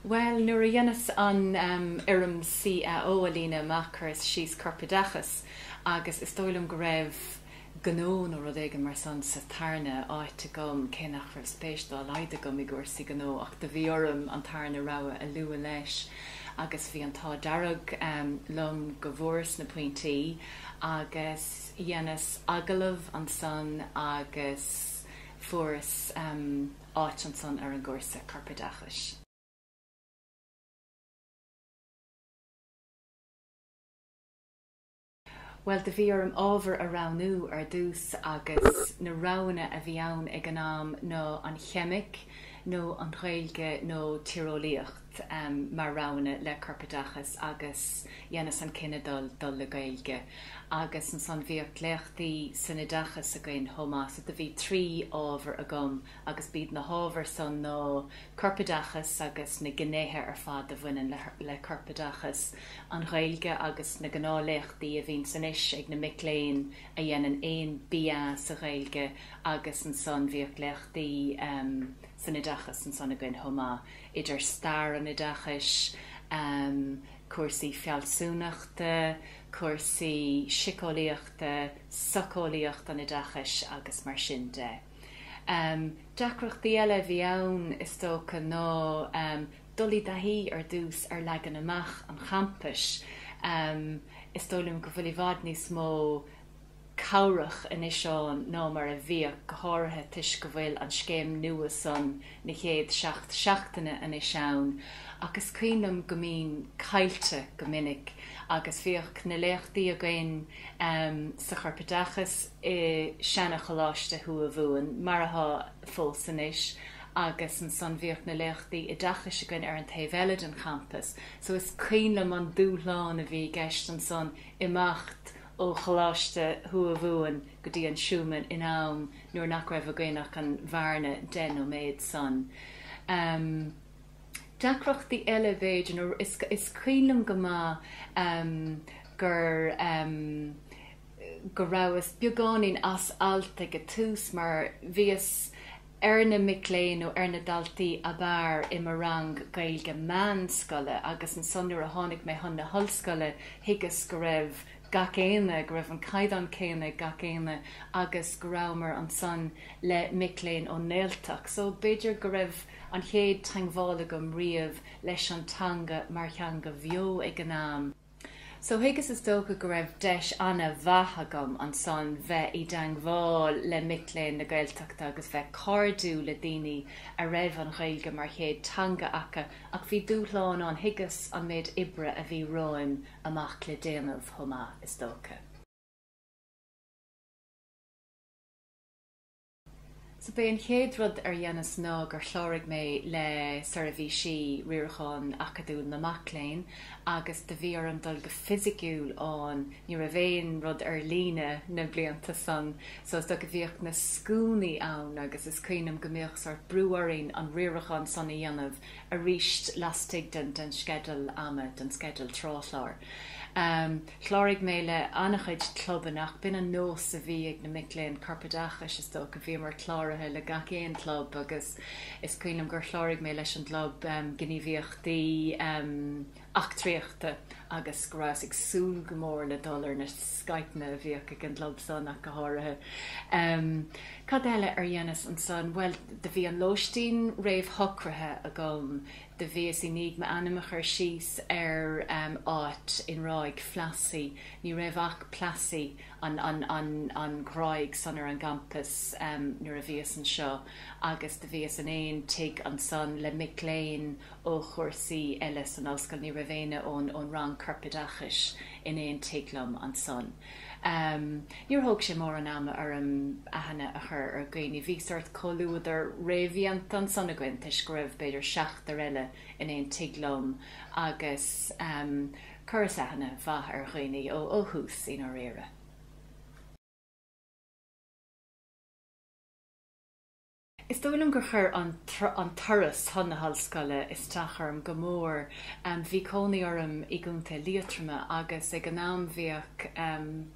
Bhuel, nuair a dheineas an fhoirm CAO a líonadh amach chuireas síos Corpoideachas agus is dóigh liom go raibh Gnó nó rud éigin mar san sa tarna áit agam, cé nach raibh spéis dá laghad agam i gcúrsaí gnó ach do bhí orm an tarna rogha a lua leis agus bhí an t-ádh dearg liom go bhfuaireas na pointí agus Dheineas agallamh ansan agus fuaireas áit ansan ar an gcúrsa Corpoideachais. Bhuel, do bhí orm ábhar a roghnú ar dtús agus na roghanna a bhí ann ag an am ná an Cheimic nó an Ghaeilge nó Tíreolaíocht. mar roghanna le corpoideachas agus dheineas an cinneadh dul le Gaeilge agus ansan bhíodh léachtaí san oideachas againn chomh maith so do bhí trí ábhar agam agus b'iad na hábhair san ná corpoideachas agus na gnéithe ar fad a bhaineann le corpoideachas, an Ghaeilge agus na gnáth léachtaí a bhíonn ansan anois ag na mic léinn a dhéanann aon BA sa Ghaeilge agus ansan bhíodh léachtaí san oideachas ansan againn chomh maith. idir stair an oideachais, cúrsaí fealsúnachta, cúrsaí siceolaíochta, socheolaíocht an oideachais agus mar sin de. Deacrachtaí eile a bhí ann is dócha ná dul i dtaithí ar dtús ar leagan amach an champais. Is dóigh liom go bhfuil i bhfad níos mó cabhrach anois ann ná mar a bhíodh, go háirithe toisc go bhfuil an scéim nua san na chéad seacht seachtaine anois ann, ach is cuimhin liom go mbínn caillte go minic agus bhíodh na léachtaí againn sa Chorpoideachas i seana Choláiste Thuamhumhan, mar atá fós anois, agus ansan bhíodh na léachtaí oideachais againn ar an taobh eile den champas. So is cuimhin liom an dúshlán a bhí i gceist ansan imeacht ó Choláiste Thuamhumhan go dtí an Schuman in am nuair nach raibh againn ach an bhearna deich nóiméad san. Deacrachtaí eile b'fhéidir is cuimhin liom go maith gur go rabhas beagáinín as alt ag an tús mar bhíos, ar na mic léinn nó ar na daltaí ab fhearr i mo rang Gaeilge meánscoile agus ansan nuair a tháinig mé chun na hollscoile thuigeas go raibh gach éinne, go raibh an caighdeán céanna ag gach éinne agus go rabhamar ansan le mic léinn ón nGaeltacht so b'fhéidir go raibh an chéad teangmháil agam riamh leis an teanga mar theanga bheo ag an am. So thuigeas is dócha go raibh deis ana mhaith agam ansan bheith i dteangmháil le mic léinn na Gaeltachta agus bheith cairdiúil le daoine a raibh an Ghaeilge mar chéad teanga acu ach bhí dúshlán ann, thuigeas an méid oibre a bhí romhaim amach le déanamh chomh maith is dócha. So b'é an chéad rud ar dheineas ná gur chláraigh mé le Seirbhísí Riaracháin Acadúil na Mac Léinn agus do bhí orm dul go fisiciúil ann, ní raibh aon rud ar líne na blianta san so is dócha bhíodh na scuainí ann agus is cuimhin liom go mbíodh sórt brú orainn an riarachán san a dhéanamh aríst lastigh den sceideal ama, den sceideal tráthchláir. Chláraigh mé le an-chuid clubanna ach b'in an nós a bhí ag na mic léinn Corpoideachais, is dócha. Bhíomar cláraithe le gach aon club agus is cuimhin liom gur chláraigh mé leis an gclub gníomhaíochtaí eachtraíochta agus go rabhas ag súil go mór le dul ar na scaipeanna a bhíodh ag an gclub san ach go háirithe. Cad eile ar dheineas ansan? Bhuel do bhí an lóistín réamhshocraithe agam Do bhíos i ndiaidh m'ainm a chur síos ar áit i nGráig Phlassey. Ní raibh ach Plassey, an ghráig san ar an gcampas nuair a bhíos anseo agus do bhíos in aon tigh ansan le mic léinn ó chúrsaí eile san ollscoil. Ní raibh éinne ón rang corpoideachais in aon tigh liom ansan. Níor thóg sé mórán ama orm aithne a chur ar dhaoine. Bhí sórt comhluadar réamhdhéanta ansan againn toisc go raibh b'fhéidir seachtar eile in aon tigh liom agus chuireas aithne mhaith ar dhaoine ó thús, i ndáiríre. Is dóigh liom gur chuir an turas chun na hollscoile isteach orm go mór. Bhí cónaí orm i gContae Liatroma agus ag an am bhíodh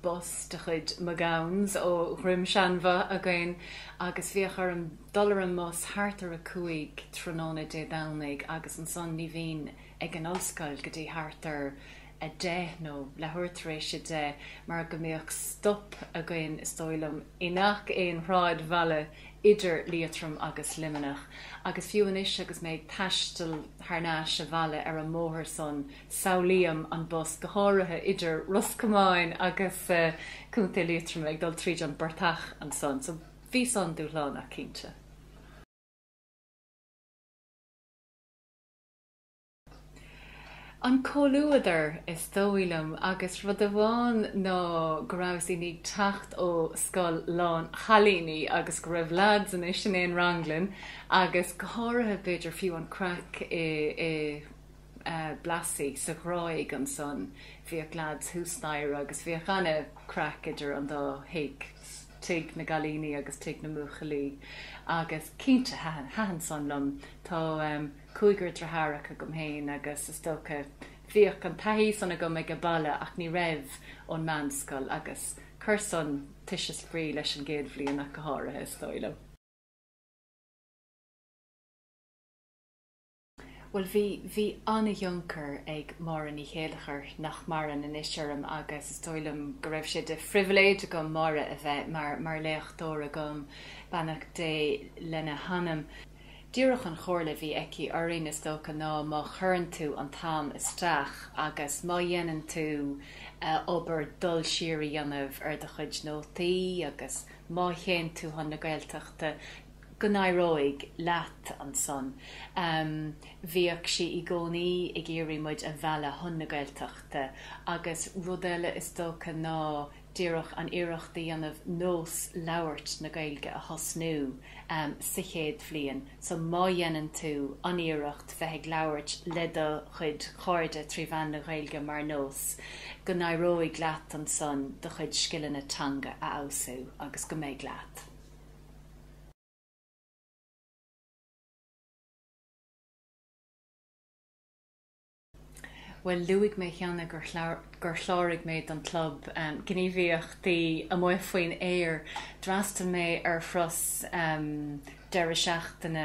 bus de chuid McGowan's ó Dhroim Seanbho againn agus bhíodh orm dul ar an mbus thart ar a cúig tráthnóna Dé Domhnaigh agus ansan ní bhínn ag an ollscoil go dtí thart ar 10 nó leathuair tar éis a deich mar go mbíodh stop againn, is dóigh liom, i ngach aon shráidbhaile idir Liatroim agus Luimneach. Agus fiú anois agus mé ag taisteal thar n-ais abhaile ar an mbóthar san, samhlaím an bus, go háirithe idir Ros Comáin agus Contae Liatroma, ag dul tríd an bportach ansan. So, bhí san dúshlánach, cinnte. an comhluadar is dóigh liom agus rud amháin ná go rabhas i ndiaidh teacht ó scoil lán chailíní agus go raibh lads anois in aon rang linn agus go háirithe b'fhéidir fiú an craic i mBlassie sa Ghráig ansan bhíodh lads thuas staighre agus bhíodh ana craic idir an dá thigh, tigh na gcailíní agus tigh na mbuachaillí agus cinnte thaitin san liom. Tá. cúigear driothárach agam féin agus is dócha bhíodh an taithí san agam aige baile ach ní raibh ón meánscoil agus chuir san toise spraoi leis an gcéad bhliain ach go háirithe, is dóigh liom. Bhuel, bhí, bhí an-thionchar ag Máire Ní Chéileachair, nach maireann, anois orm agus is dóigh liom go raibh sé de phribhléid agam Máire a bheith mar, mar léachtóir agam, beannacht Dé lena hanam. Díreach an chomhairle a bhí aici orainn is dócha ná má chuireann tú an t-am isteach agus má dhéanann tú obair dul siar a dhéanamh ar do chuid nótaí agus má théann tú chun na Gaeltachta go n-éireoidh leat ansan. Bhíodh sí i gcónaí ag iarraidh muid a mhealladh chun na Gaeltachta agus rud eile is dócha ná díreach an iarracht a dhéanamh nós labhairt na Gaeilge a thosnú sa chéad bhliain. So má dhéanann tú an iarracht bheith ag labhairt le do chuid cairde trí mhean na Ghaeilge mar nós, go n-éireoidh leat ansan do chuid scileanna teanga a fheabhsú agus go mbeidh leat. Bhuel, luaigh mé cheana gur chláraigh mé don club gníomhaíochtaí amuigh faoin aer. D'fhreastail mé ar thuras deireadh seachtaine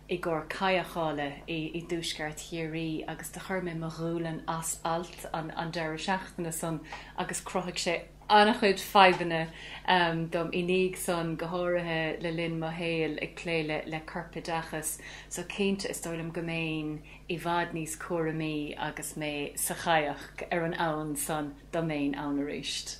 i gcomhair cadhcála i dtuaisceart Chiarraí agus do chuir mé mo ghualainn as alt an deireadh seachtaine san agus chruthaigh sé an-chuid fadhbanna dom i ndiaidh san, go háirithe le linn mo shaoil ag plé le le corpoideachas, so cinnte is dóigh liom go mbeinn i bhfad níos cúramaí agus mé sa chadhac ar an abhainn san, dá mbeinn ann aríst.